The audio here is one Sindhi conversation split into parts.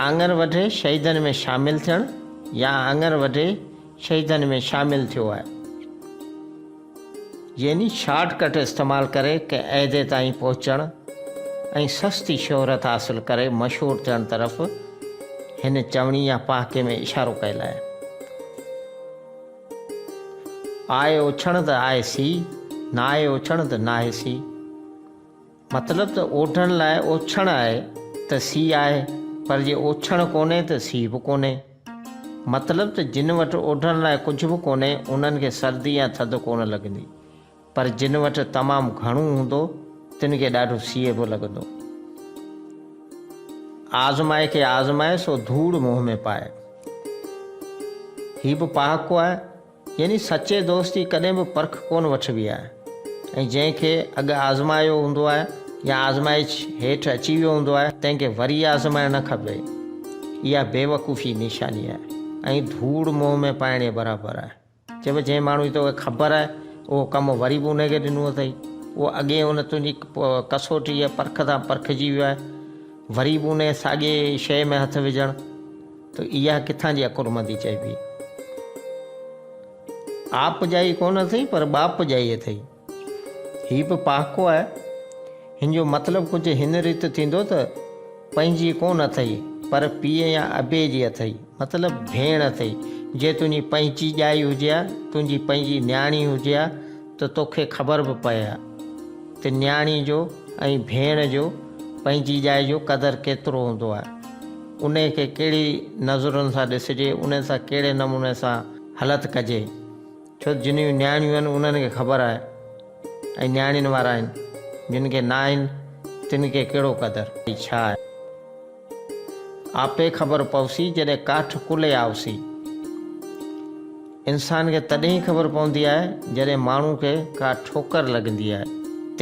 آڱر وڍي شهيدن ۾ شامل ٿيڻ يا آڱر وڍي شهيدن ۾ شامل ٿيو آهي يعني شارٽ ڪٽ استعمال ڪري ڪنهن عهدي تائين پهچڻ ۽ سستي شهرت حاصل ڪري مشهور ٿيڻ طرف هن چوڻي يا پهاڪي ۾ اشارو ڪيل آهي آء اوڇڻ ته آء سي ناهي اوڇڻ ته ناهي سي مطلب ته اوڍڻ لاء اوڇڻ آهي ته سي آهي، پر جي اوڇڻ ڪونهي ته سي به ڪونهي. مطلب ته جن وٽ اوڍڻ لاء ڪجهه به ڪونهي، انهن کي سردي يا ٿڌ ڪونه لڳندي، پر جن وٽ تمام گهڻو هوندو، تن کي ڏاڍو سيء به لڳندو. آزمائي کي آزمائي سو ڌوڙ منهن ۾ پائي. هي به پهاڪو آهي. يعني سچي دوست جي ڪڏهن به پرک ڪونه وٺبي آهي ۽ جنهن کي اڳ آزمايو هوندو آهي يا آزمائش هيٺ اچي ويو هوندو آهي تنهن کي وري آزمائڻ نه کپي اها بيوقوفي جي نشاني آهي ۽ ڌوڙ منهن ۾ پائڻ جي برابر آهي چئبو جنهن ماڻهو جي توکي خبر آهي اهو ڪم وري به ان کي ڏنو اٿئي اهو اڳي ان تنهنجي ڪسوٽي يا پرک سان پرکجي ويو آهي وري به ان ساڳي شيء ۾ هٿ وجهڻ ته اها ڪٿان جي عقلمندي چئبي؟ آپ جائي ڪونه اٿئي پر ٻاپ جائي اٿئي. هي به پهاڪو آهي. هن جو مطلب ڪجهه هن ريت ٿيندو ته پنهنجي ڪونه اٿئي پر پيء يا ابي جي اٿئي مطلب ڀيڻ اٿئي. جي تنهنجي پنهنجي ڄائي هجي ها، تنهنجي پنهنجي نياڻي هجي ها، ته توکي خبر به پئي ها ته نياڻي جو ۽ ڀيڻ جو پنهنجي ڄائي جو قدر ڪيترو هوندو آهي. انهي کي ڪهڙي نظرن سان ڏسجي، انهن سان ڪهڙي نموني سان هلت ڪجي. ڇو ته جنهن جون نياڻيون آهن انهن کي خبر آهي ۽ نياڻين وارا آهن. جن کي ناهن تن کي ڪهڙو قدر ۽ ڇا آهي. آپي خبر پوسي جڏهن ڪاٺ ڪلهي آوسي. انسان کي تڏهن ئي خبر پوندي آهي جڏهن ماڻهو کي ڪا ٺوڪر لڳندي آهي.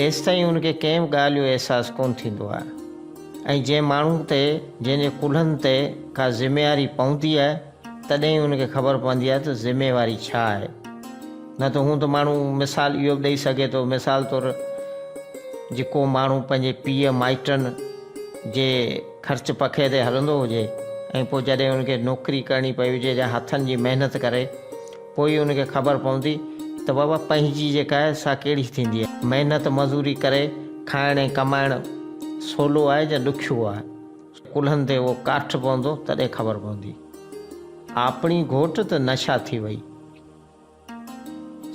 تيستائين ان کي ڪنهن به ڳالهه جو احساس ڪونه ٿيندو آهي ۽ جنهن ماڻهو تي جنهن جي ڪلهن تي ڪا ذميواري پوندي آهي، تڏهن ئي هن کي خبر پوندي آهي ته ذميواري ڇا آهي. نه ته هونء ته ماڻهو مثال اهو به ڏئي سگهي ٿو مثال طور جي ڪو ماڻهو پنهنجي پيء مائٽن جي خرچ پکي تي هلندو هجي ۽ پوء جڏهن هن کي نوڪري ڪرڻي پئي هجي يا هٿن جي محنت ڪري پوء ئي هن کي خبر پوندي ته بابا پنهنجي جيڪا آهي سا ڪهڙي ٿيندي آهي. محنت مزوري ڪري کائڻ ۽ ڪمائڻ سولو آهي جا ڏکيو آهي. ڪلهن تي اهو ڪاٺ پوندو تڏهن خبر پوندي. آپڻي گهوٽ ته نشا ٿي وئي.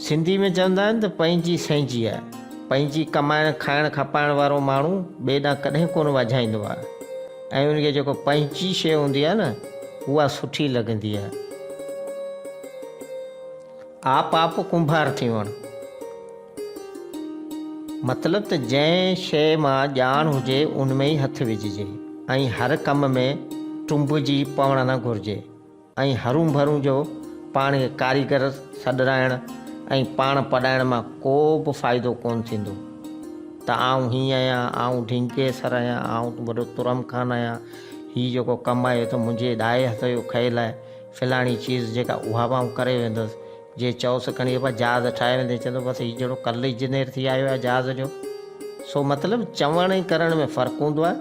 سنڌي ۾ چوندا آهن ته پنهنجي سهنجي آهي. پنهنجي ڪمائڻ کائڻ کپائڻ وارو ماڻهو ٻئي ڏانهن ڪڏهن ڪونه وجهائيندو آهي ۽ ان کي جيڪو پنهنجي شيء هوندي آهي نه اها سٺي لڳندي آهي. آپ آپ ڪنڀار ٿيون. مطلب ته جنهن شيء مان ڄاڻ هجي ان ۾ ئي هٿ وجهجي ۽ هر ڪم ۾ ٽنبجي پوڻ نه گهرجي ۽ هرون ڀرون جو پاڻ کي ڪاريگر سڏرائڻ ۽ پاڻ پڏائڻ مان ڪو به فائدو ڪونه ٿيندو ته آئون هي آهيان، آئون ڍينڪي سر آهيان، آئون وڏو ترم خان آهيان، هي جيڪو ڪم آهي اهو ته منهنجي ڏائي هٿ جو کيل آهي، فلاڻي چيز جيڪا اها به آئون ڪري ويندس، جي چئوس کڻي ابا جهاز ٺاهي ويندين چوندو بس هي جهڙو ڪل انجنيئر ٿي آيو آهي جهاز جو سو مطلب چوڻ ۽ ڪرڻ ۾ فرق هوندو آهي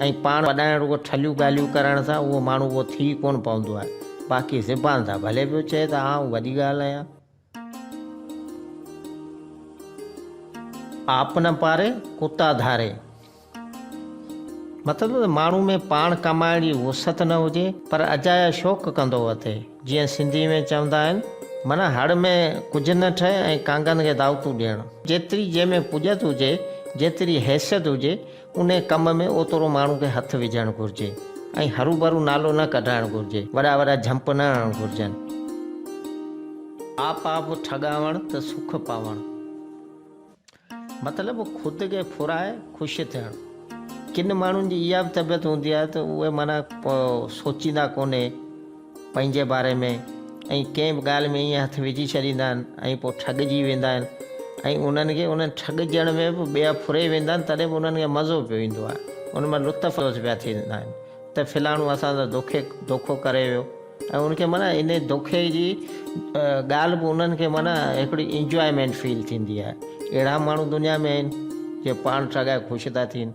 ۽ پاڻ وڏائڻ رڳو ٺلهيون ڳالهيون ڪرڻ سان اهو ماڻهو اهو ٿي ڪونه پوندو آهي باقي زبان تان ڀلي پيو چئي ته آئون وڏي ڳالهه آهيان آپ نه پاري ڪتا ڌاري. مطلب ته ماڻهو ۾ پاڻ ڪمائڻ جي وسعت نه هجي پر اجايا شوق ڪندو اٿئي. جيئن سنڌي ۾ چوندا آهن معنيٰ هڙ ۾ ڪجهه نه ٺهي ۽ ڪانگن کي دعوتون ڏيڻ. جيتري جنهن ۾ پڄت هجي، جيتري حيثيت هجي، انهي ڪم ۾ اوترو ماڻهو کي هٿ وجهڻ گهرجي ۽ هروڀرو نالو نه ڪڍرائڻ گهرجي، وڏا وڏا جهمپ نه هڻڻ گهرجن. آپ آپ ٺڳاوڻ ته سک پاوڻ. مطلب خود کي ڦرائي خوش ٿيڻ. ڪن ماڻهن جي اها به طبيعت هوندي آهي ته اهي معنيٰ سوچيندا ڪونهي پنهنجي باري ۾ ۽ ڪنهن به ڳالهه ۾ ائين هٿ وجهي ڇڏيندا آهن ۽ پوء ٺڳجي ويندا آهن ۽ انهن کي انهن ٺڳجڻ ۾ به ٻيا ڦري ويندا آهن تڏهن به انهن کي مزو پيو ايندو آهي ان مان لطف اندوز پيا ٿيندا آهن ته فلاڻو اسان سان دوکي دوکو ڪري ويو ۽ ان کي معنيٰ ان دوکي جي ڳالهه به انهن کي معنيٰ هڪڙي انجوائمينٽ فيل ٿيندي آهي اهڙا ماڻهو دنيا ۾ آهن جي پاڻ ٺڳائي خوش ٿا ٿين.